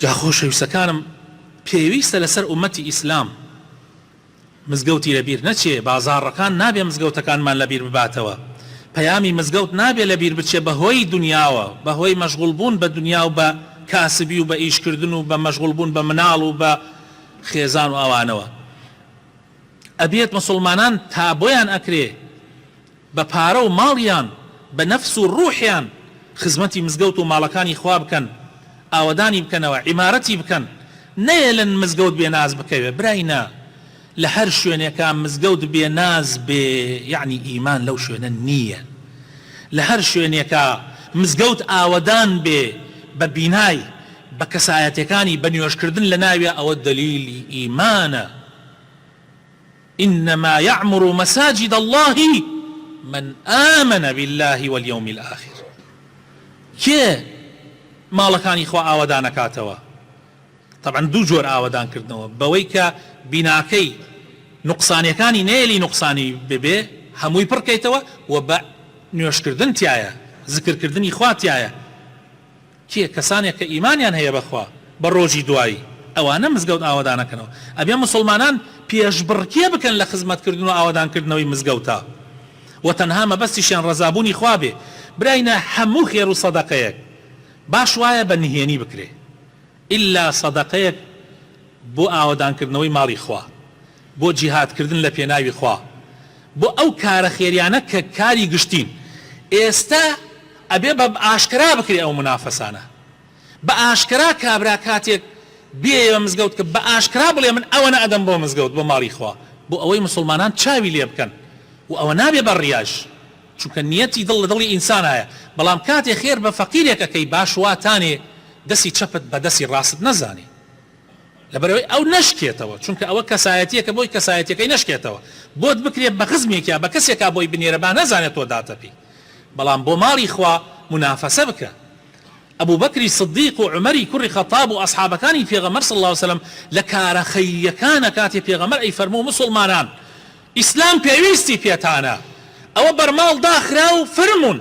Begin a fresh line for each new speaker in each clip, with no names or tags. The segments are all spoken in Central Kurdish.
جا خۆشەویستەکانم پێویستە لەسەر ئومەتی ئیسلام مزگەوتی لەبیر نەچێ بازاڕەکان نابێ مزگەوتەکانمان لەبیر بباتەوە پەیامی مزگەوت نابێ لەبیر بچێ بەهۆی دنیاوە بەهۆی مەشغوڵ بوون بە دنیا و بە کاسبی و بە ئیش کردن و بە مەشغوڵ بوون بە مناڵ و بە خێزان و ئەوانەوە ئەبێت موسڵمانان تا بۆیان ئەکرێ بە پارە و ماڵیان بە نەفس و ڕوحیان خزمەتی مزگەوت و ماڵەکانی خوا بکەن ئاوەدانی بکەنەوە عیمارەتی بکەن نەیەلن مزگەوت بێ ناز بکەوێ برای نا لە هەر شوێنێکا مزگەوت بێ ناز بێ یەعنی ئیمان لەو شوێنە نییە لە هەر شوێنێکا مزگەوت ئاوەدان بێ بە بینای بە کەسایەتێکانی بە نوێژ کردن لە ناویا ئەوە دەلیلی ئیمانە. انما یعمر مساجد اللە من آمن باللە والیوم الآخر کێ ماڵەکانی خوا ئاوەدان ئەکاتەوە تەبعەن دوو جۆر ئاوەدان کردنەوە بەوەی کە بیناکەی نوقسانیەکانی نەیەلی نوقسانی ببێ هەمووی پڕ کەیتەوە و بە نوێژ کردن تیایە زکر کردنی خوا تیایە کێ کەسانێک کە ئیمانیان هەیە بەخوا بە ڕۆژی دوایی ئەوانە مزگەوت ئاوەدانەکەنەوە ئەبێ موسڵمانان پێشبڕکێ بکەن لە خزمەت کردن و ئاوەدان کردنەوەی مزگەوتا وە تەنها مەبەستیشیان ڕەزابوونی خوا بێ برای نا هەموو خێرو سەدەقەیەک باش وایە بە نهێنی بکرێ ئیلا سەدەقەیەک بۆ ئاوەدان کردنەوەی ماڵی خوا بۆ جیهاد کردن لە پێناوی خوا بۆ ئەو کارە خێریانە کە کاری گشتین ئێستا ئەبێ بە ئاشکرا بکرێ ئەو منافەسانە بە ئاشکرا کابرا کاتێک بێیە مزگەوت کە بە ئاشکرا بڵێ من ئەوەنە ئەدەم بۆ مزگەوت بۆ ماڵی خوا بۆ ئەوەی موسڵمانان چاوی لێ بکەن و ئەوە نابێ بە ڕیاش چونکە نیەتی دڵ لە دڵی ئینسانایە بەڵام کاتێ خێر بە فەقیرێک ئەکەی باش واتانێ دەسی چەپت بە دەسی ڕاستت نەزانێ لەبەرئەوەی ئەو نەشکێتەوە چونکە ئەوە کەسایەتیەکە بۆی کەسایەتیەکەی نەشکێتەوە بۆت بکرێ بەخزمێکیا بەکەسێکا بۆی بنێرە بانەزانێ تۆ داتەپی بەڵام بۆ ماڵی خوا منافەسە بکە ئەبوبەکری صدیق و عومەری کوڕی خەتاب و ئەسحابەکانی پێغەمبەر صلی اللە علیە وسلم لە کارە خەیریەکانە کاتێ پێغەمبەر ئەی فەرموو موسڵمانان ئیسلام پێویستی پێتانە ئەوە بەرماڵ داخراو فرموون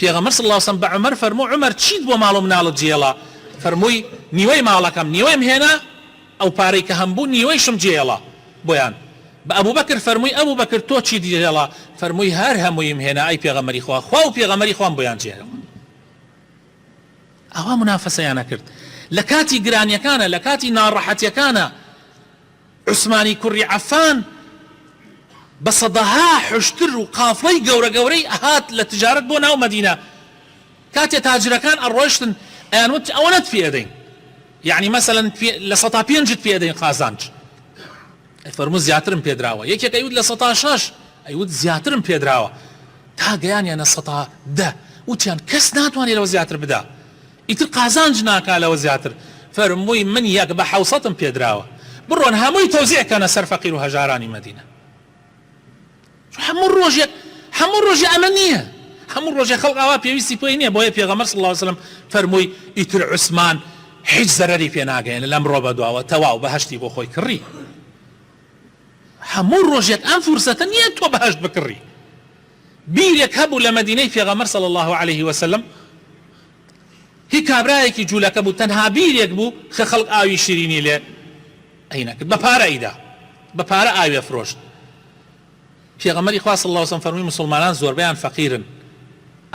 پێغەمبەر صلی اللە علیە وسلم بە عومەر فەرموو، عومەر چیت بۆ ماڵ و مناڵت جێێڵا؟ فەرمووی، نیوەی ماڵەکەم، نیوەیم هێنا، ئەو پارەی کە هەمبوو نیوەیشم جێێڵا بۆیان. بە ئەبوبەکر فەرمووی، ئەبوبەکر تۆ چیت جێێڵا؟ فەرمووی، هەر هەموویم هێنا ئەی پێغەمبەری خوا، خوا و پێغەمبەری خوام بۆیان جێێڵا. ئاوا منافەسەیان ئەکرد لە کاتی گرانیەکانا، لە کاتی ناڕەحەتیەکانا، عوسمانی کوڕی عەفان بە سەدەها حوشتر و قافڵەی گەورە گەورەی ئەهات لە تجارەت بۆ ناو مەدینە کاتێ تاجرەکان ئەڕۆشتن ئەیان وت ئەوەنەت پێ ئەدەین یعنی مەسەلەن لە سەتا پێنجت پێ ئەدەین قازانج فەرموو زیاترم پێدراوە یەکێک ئەیوت لە سەتا شەش ئەیوت زیاترم پێدراوە تا گەیانیانە سەتا دە وتیان کەس ناتوانێت لەوە زیاتر بدا ئیتر قازانج ناکا لەوە زیاتر فەرمووی من یەک بە حەوسەتم پێدراوە بڕۆن هەمووی تەوزیع کەنە سەر فەقیر و هەژارانی مەدینە چون هەموو ڕۆژێک هەموو ڕۆژێ ئەمە نییە هەموو ڕۆژێ خەڵق ئاوا پێویستی پێی نییە بۆیە پێغەمبەر صلی اللە علیە وسلم فەرمووی ئیتر عوسمان هیچ زەرەری پێ ناگەیەنێ لەمڕۆ بەدواوە تەواو بەهەشتی بۆ خۆی کڕی هەموو ڕۆژێک ئەم فرسەتە نییە تۆ بەهەشت بکڕی بیرێک هەبوو لە مەدینەی پێغەمبەر صلی اللە علیە وسلم هی کابرایەکی جولەکە بوو تەنها بیرێک بوو کە خەڵک ئاوی شیرینی لێ ئەی نەکرد بە پارە ئیدا بە پارە ئاوێ فرۆشت پێغەمەری خوا صلی اللە وسلم فەرمی مسلمانان زۆربیان فەقیرن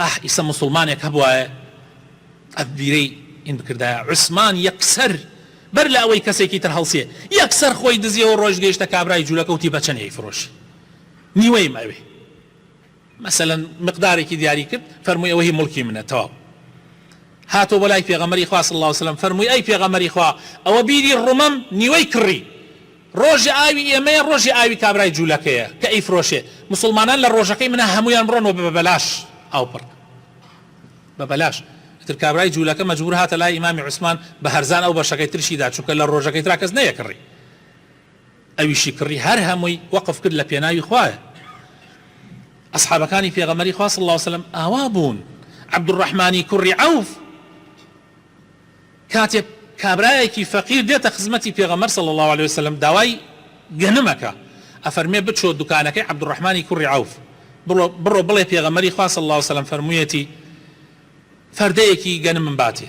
ئەح ئیسە مسلمانێک هەبوایە ئەبیرەی ئین بکردایە عوسمان یەکسەر بەر لە ئەوەی کەسێکی تر هەڵسێ یەکسەر خۆی دزیەوە ڕۆژ گەیشتە کابرای جوولەکەوتی بەچەنێی فرۆشی نیوەیم ئەوێ مەسەلەن مقدارێکی دیاری کرد فەرمووی ئەوە هی موڵکی منە تەواو هاتۆ بۆ لای پێغەمەری خوا صلی الله علیه و سلم فەرمووی ئەی پێغەمەری خوا ئەوە بیری ڕمەم نیوەی کڕی ڕۆژی ئاوی ئێمەیە ڕۆژی ئاوی کابرای جوولەکەیە کە ئەیفرۆشێ مسوڵمانان لە ڕۆژەکەی منە هەموویان بڕۆن و بە بەلاش ئاو پڕ بە بەلاش ئیتر کابرای جوولەکە مەجبور هاتە لای ئیمامی عوسمان بە هەرزان ئەو بەشەکەی ترشی دا چونکە لە ڕۆژەکەی ترا کەس نەیەکڕی ئەویشی کڕی هەر هەمووی وەقف کرد لە پێناوی خوایە ئەسحابەکانی پێغەمبەری خوا صلی اللە وسلم ئاوا بوون عبدالرحمانی کوڕی عوف کاتێ کابرایەکی فەقیر دێتە خزمەتی پێغەمبەر صلی اللە علیە وسلم داوای گەنم ئەکا ئەفەرمێ بچۆ دوکانەکەی عبدالرحمانی کوڕی عوف بڕۆ بڵێ پێغەمبەری خوا صلی اللە وسلم فەرموویەتی فەردەیەکی گەنمم باتێ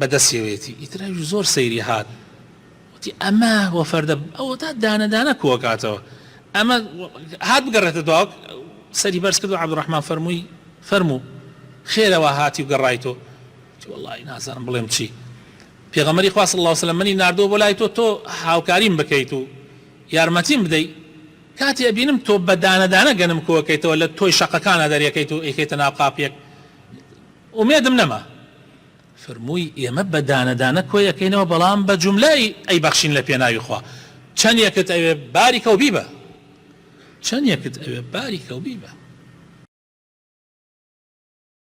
بەدەستیەوەیەتی ئیتر ئەویش زۆر سەیری هات وتی ئەمە وە فەردە ئەوەتا دانە دانە کۆکاتەوە ئەمە هات بگەڕێتە دواوە سەری بەرز کرد و عبدڕحمان فەرمووی فەرموو خێرەوە هاتی و گەڕای تۆ وڵی نازانم بڵێم چی پێغەمەری خواست الله وسلم منی نردووە بۆ لای تۆ تۆ هاوکاریم بکەیت و یارمەتیم بدەیت کاتی ئەبینم تۆ بەدانەدانە گەنم کۆکەیتەوە لە تۆی شەقەکانە دەرەکەیت و ئەیکەیتە ناو قاپیەک ئومێدم نەما فەرمووی، ئێمە بە دانە دانە کۆی ئەکەینەوە بەڵام بە جوملە ئەیبەخشین لە پێناوی خوا، چەندێکت ئەوێ باری کەو بیبە. چەندێکت ئەوێ باری کەو بیبە.